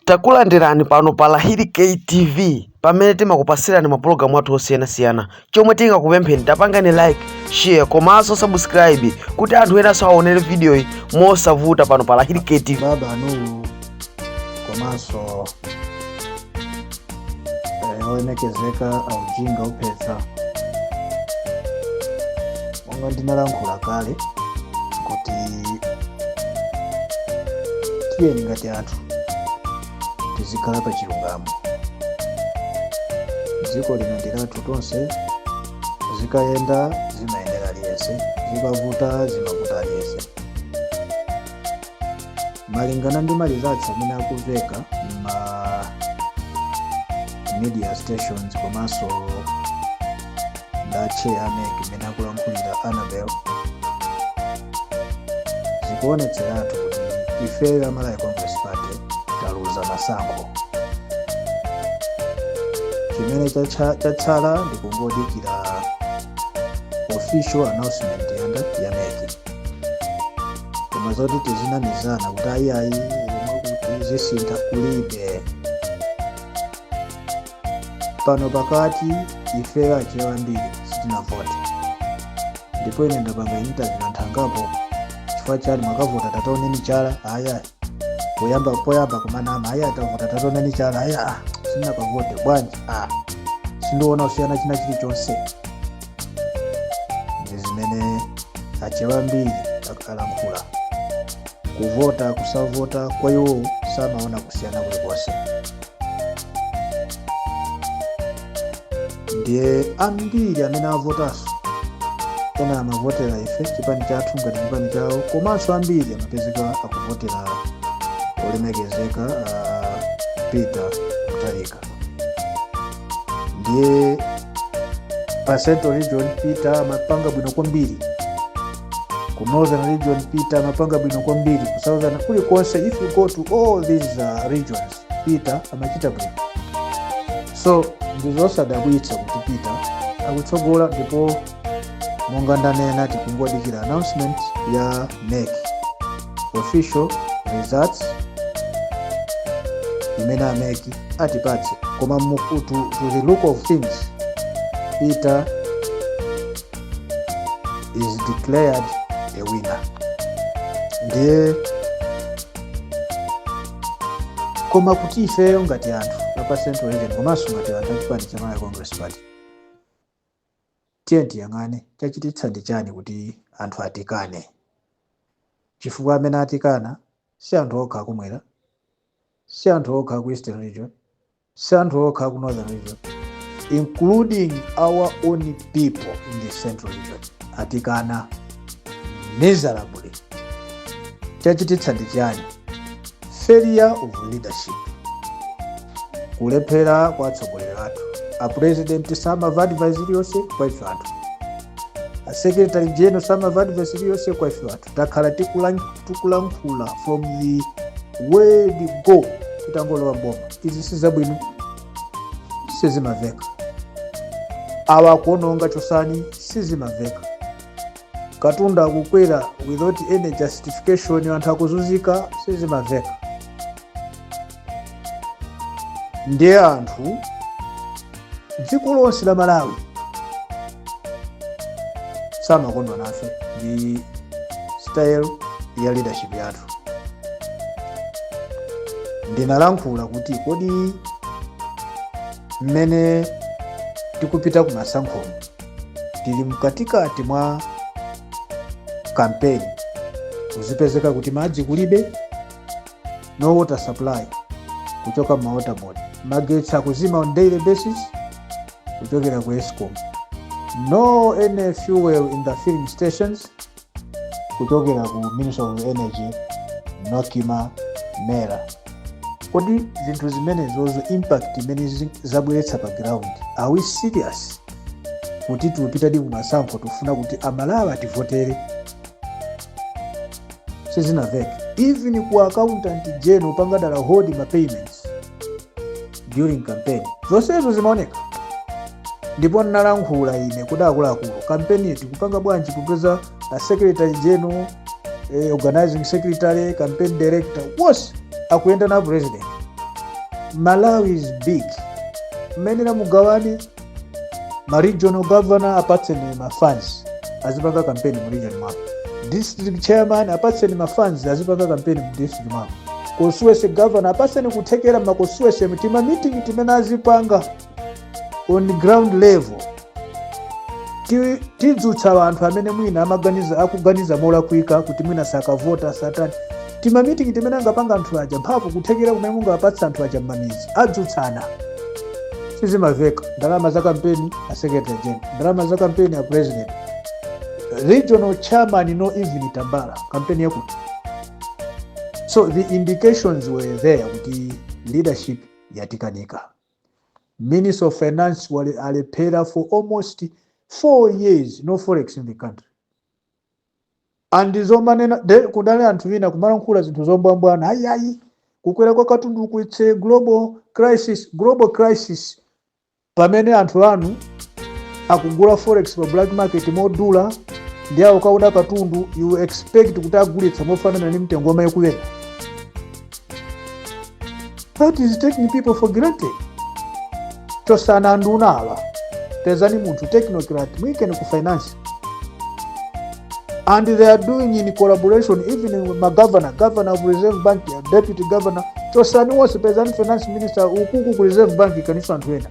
Takulandirani pano pa Lahiri K TV pamene timakupasirani mapulogalamu athu osiyanasiyana chomwe tingakupempheni tapangani like share komanso subscribe kuti anthu enanso aonere vidiyoyi mosavuta pano pa Lahiri K TV baba anuwu komanso eh, olemekezeka aujinga opeza monga ndinalankhula kale kuti tiyeni ngati anthu tizikhala pa chilungamo dziko lino ndi lathu tonse zikayenda zimayendera aliyense zikavuta zimavuta aliyense malingana ndi ma results amene akumveka ma media stations komanso nda chair a MEC mmene akulankhulira Annabel zikuonetseratu kuti ifeyo a Malawi Congress Party taluza masankho chimene chacha- chatsala ndi kungodikira official announcement ya a chair a MEC koma zoti tizinamizana kuti ayiayi zomwe kuti zisintha kulibe pano pakati ifeyo achewa ambiri sanavote ndipo ine ndapanga interview anthu angapo chifukwa chani munakavota tataoneni chala aya poyamba poyamba kumanama aya atavota tataoneni chala aya ah, sitinakavote bwanji ah, sindiona kusiyana china chilichonse ndi zimene achewa ambiri alankhula kuvota kusavota kwa iwo samaona kusiyana kulikonse ndiye ambiri amene avotanso ena amavotera ife chipani chathu ngati chipani chawo komanso ambiri amapezeka akuvotera olemekezeka uh, Peter Mutharika ndiye pa central region peter amapanga bwino kwambiri ku northern region peter amapanga bwino kwambiri ku southern kulikonse if you go to all these uh, regions peter amachita bwino so ndizosadabwitsa kuti peter akutsogola ndipo monga ndanena tikungodikira announcement ya MEC official results imene a MEC atipatse koma mu- to, to the look of things peter is declared a winner ndiye koma kuti ifeyo ngati anthu apa central region komanso ngati anthu achipani cha malawi congress party Tiyeni tiyang'ane, chachititsa ndi chani kuti anthu atikane? Chifukwa amene atikana si anthu okha aku mwera, si anthu okha aku Eastern region, si anthu okha aku Northern region, including our own people in the Central region atikana miserably. Chachititsa ndi chani? Failure of leadership. Kulephera kwa atsogoleri athu. A president samava advice iliyonse kwa ife anthu. A secretary general samava advice iliyonse kwa ife anthu. Takhala tikulan- tikulankhula from the word go titangolowa m'boma. Izi si zabwino sizimamveka. Awa akuononga chosani sizimamveka. katundu akukwera without any justification anthu akuzunzika sizimamveka ndiye anthu dziko lonse la malawi samakondwa nafe ndi style ya leadership yathu ndinalankhula kuti kodi mmene tikupita kumasankhomo tili mkatikati mwa kampeni kuzipezeka kuti madzi kulibe no water supply kuchoka m'ma water board magetsi akuzima on daily basis kuchokera ku escom no any fuel in the filling stations kuchokera ku ministry of energy nocma mera kodi zinthu zimenezozo impact imene zi- zabweretsa pa ground are we serious kuti tiupitadi kumasankho tufuna kuti amalawi ativotere sizinamveke even ku accountant general panga dala hold ma payments during campaign zonsezo zimaoneka ndipo ndinalankhula ine kuti akuluakulu kampeni tikupanga bwanji kupeza a secretary general eh, organizing secretary campaign director wonse akuyenda na president malawi is big mmayenera mugawane ma regional governor apatseni ma funds azipanga kampeni mu region mwako district chairman apatseni ma funds azipanga kampeni mu district mwako constituency governor apatseni kuthekera ma constituency tima meeting timene azipanga on ground level Ti- tidzutsa anthu amene mwina amaganiza akuganiza molakwika kuti mwina sakavota satani timamitingi timene angapanga anthu aja mphamvu kuthekera kumene mungawapatsa anthu aja mmamidzi adzutsana sizimaveka ndalama za kampeni a secretary general ndalama za kampeni a president regional chairman no even tambala kampeni yakuti so the indications were there kuti leadership yatikanika minister of finance alephera for almost four years no forex in the country and zomanena kudali anthu ina kumalankhula zinthu zombwambwana ayi ayi kukwera kwa katunduku it's a global crisis global crisis pamene anthu anu akugula forex pa black market modula ndi awo kauda katundu you expect kuti agulitsa mofanana ndi mtengo omwe ukuwerawu That is taking people for granted. Chosani nduna awa. Pezani munthu technocrat mwikeni ku finance. And they are doing in collaboration even with ma governor, governor of Reserve Bank, uh, deputy governor. Chosani wonse pezani finance minister uko ku Reserve Bank ikaniso anthu ena.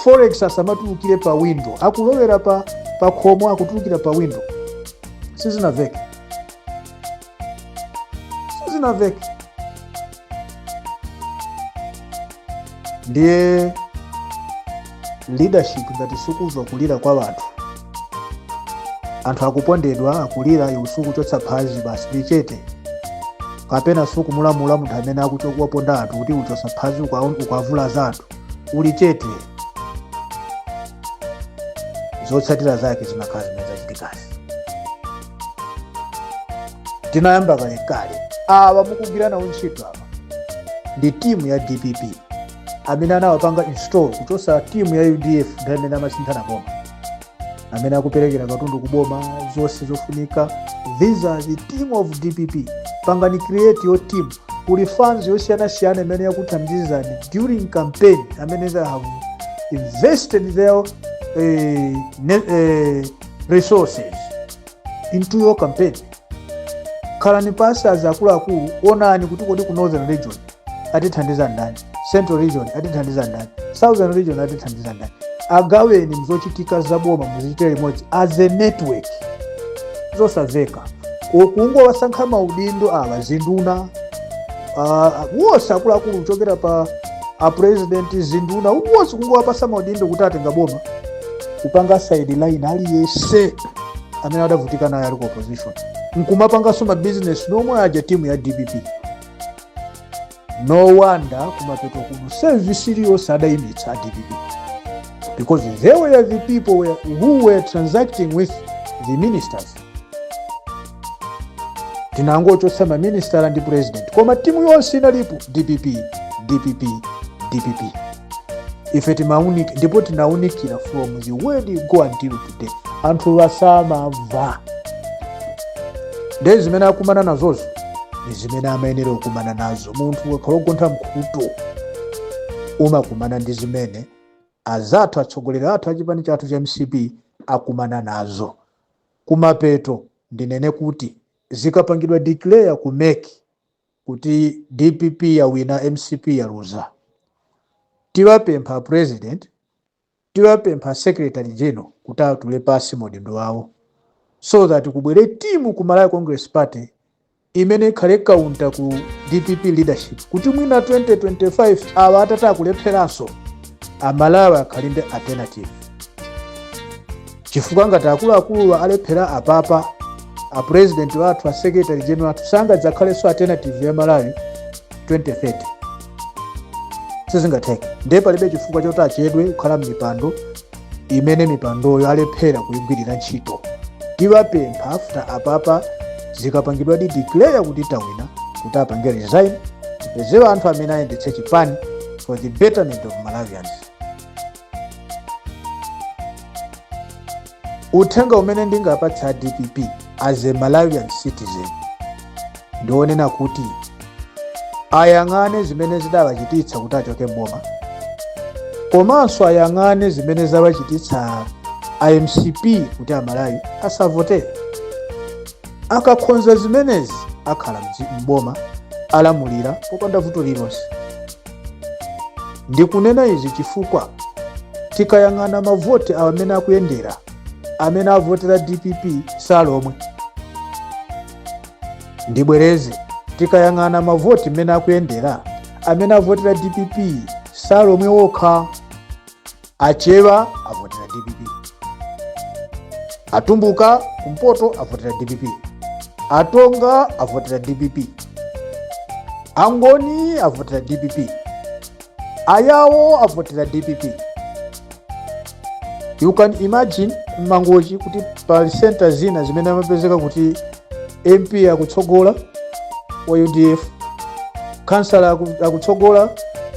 Forex asamatulukire pa window. Akulowera pa pa khomo akutulukira pa window. Sizinamveke. sizinamveke ndiye leadership ngati sukumva kulira kwa wanthu anthu akupondedwa akulira iwe sukuchotsa phazi basi uli chete kapena sukumulamula munthu amene akuchokuwaponda anthu kuti uchotse phazi ukwa- ukuwavulaza anthu uli chete zotsatira zake zimakhala zimene zachitikazi tinayamba kalekale awa mukugwira nawo ntchito apa ndi timu ya dpp amene anawapanga install kuchosa timu ya udf ndi amene amasinthana boma amene akuperekera katundu ku boma zonse zofunika these are the team of dpp pangani create your team kuli funds yosiyanasiyana imene yakuthandizani during campaign amene they have invested their eh, ne- eh, resources into your campaign khalani pansi azi akuluakulu onani kuti kodi ku northern region atithandiza ndani central region atithandiza ndani southern region atithandiza ndani agaweni zochitika zaboma muzichite limodzi as a network zosaveka kungowasankha maudindo awa zinduna ah, wonse akuluakulu kuchokera pa apresidenti zinduna wonse kungowapasa maudindo kuti atenga boma kupanga sideline aliyense amene adavutika naye ali ku opposition nkumapanganso mabizinesi nomwe aja timu ya dpp no wonder kumapeto kuno service iliyonse adayimitsa a dpp because they were the people were, who were transacting with the ministers tinangochotsa maministala ndi president koma timu yonse inalipo dpp dpp dpp ife timaunika ndipo tinaunikira from the word you go until today anthu asamamva ndi zimene akumana nazozo ni zimene amayenera kukumana nazo munthu ukakhala ogontha mkhutu umakumana ndi zimene azathu atsogoleri athu achipani chathu cha mcp akumana nazo kumapeto ndinene kuti zikapangidwa declare ku mec kuti dpp yawina mcp yaluza tiwapempha president tiwapempha secretary general kuti atule pasi maudindo awo so that kubwere timu ku malawi congress party imene ikhale counter ku dpp leadership kuti mwina 2025 awa atata akulepheranso amalawi akhale ndi alternative chifukwa ngati akuluakuluwa alephera apapa apurezidenti wathu asekretary general athu sangadzakhalenso alternative ya malawi 2030 sizingatheke ndiye palibe chifukwa choti achedwe kukhala m'mipando imene mipandoyo alephera kuyigwirira ntchito tiwapempha after apapa zikapangidwadi declare kuti tawina kuti apange resign tipezewa anthu amene ayendetse chipani for the betterment of malawians uthenga umene ndingaapatsa a dpp as a malawian citizen ndi onena kuti ayang'ane zimene zidawachititsa kuti achoke mboma komanso ayang'ane zimene zawachititsa a mcp kuti amalawi asaavotere akakhonza zimenezi akhala mdzi- mboma alamulira popanda vuto lilonse ndikunena izi chifukwa tikayang'ana mavoti mmene akuyendera amene avotera dpp si alomwe ndibwereze tikayang'ana mavoti mmene akuyendera amene avotera dpp si alomwe okha achewa avotera dpp atumbuka kumpoto avotera dpp atonga avotera dpp angoni avotera dpp ayawo avotera dpp you can imagine mmangochi kuti pali center zina zimene amapezeka kuti mp akutsogola wa udf kansala aku- akutsogola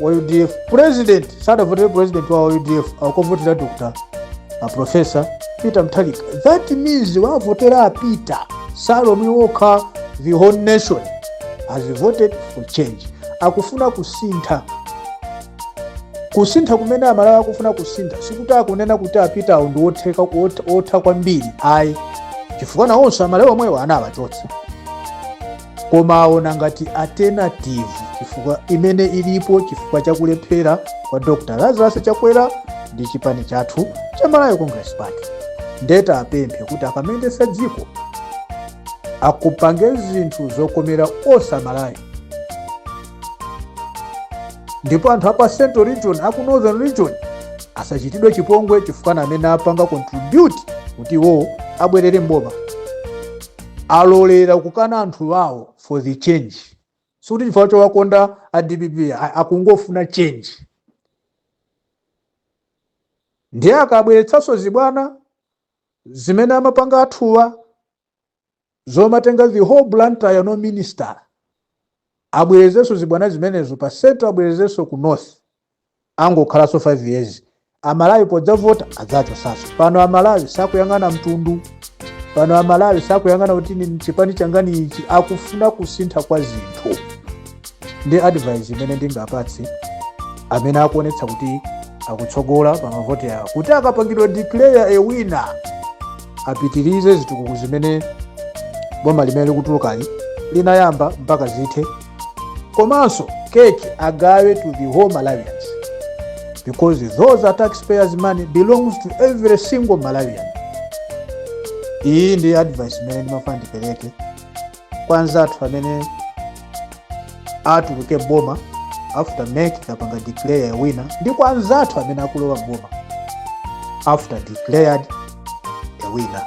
wa udf president sadavotere president wa udf akuvotera dr aprofesa peter mutharika that means awavotera a peter si alomwe okha the whole nation has voted for change akufuna kusintha kusintha kumene amalawi akufuna kusintha sikuti akunena kuti a Peter-wo ndi otheka ot- otha kwambiri ayi chifukwa nawonso amalawi omwewo anawachotsa koma aona ngati alternative chifukwa imene ilipo chifukwa chakulephera kwa dr lazarus chakwera ndi chipani chathu cha malawi congress party nde tawapemphe kuti akamayendetsa dziko akapange zinthu zokomera onse amalawi ndipo anthu apa central region aku northern region asachitidwe chipongwe chifukwa ndi amene apanga contribute kuti iwowo abwerere mboma alolera kukana anthu awo for the change sikuti chifukwa chowakonda a dpp a- akungofuna change ndiye akabweretsanso zibwana zimene amapanga athuwa zomatenga the whole blantyre no minister abwerezenso zibwana zimenezo pa central abwerezenso ku north angokhalanso 5 years amalawi podzavota adzawachotsanso pano amalawi sakuyang'ana mtundu pano amalawi sakuyang'ana kuti ni chipani changani ichi akufuna kusintha kwa zinthu ndi advice imene ndingapatse amene akuonetsa kuti akutsogola pa mavoti awo kuti akapangidwa declare a winner apitirize zitukuko zimene boma limene likutulukali linayamba mpaka zithe komanso keki agawe to the whole malawians because those are taxpayers money belongs to every single malawian iyi ndi advice imene ndimafuna ndipereke kwa anzathu amene atuluke mboma after MEC itapanga declare a winner ndi kwa anzathu amene akulowa mboma after declared a winner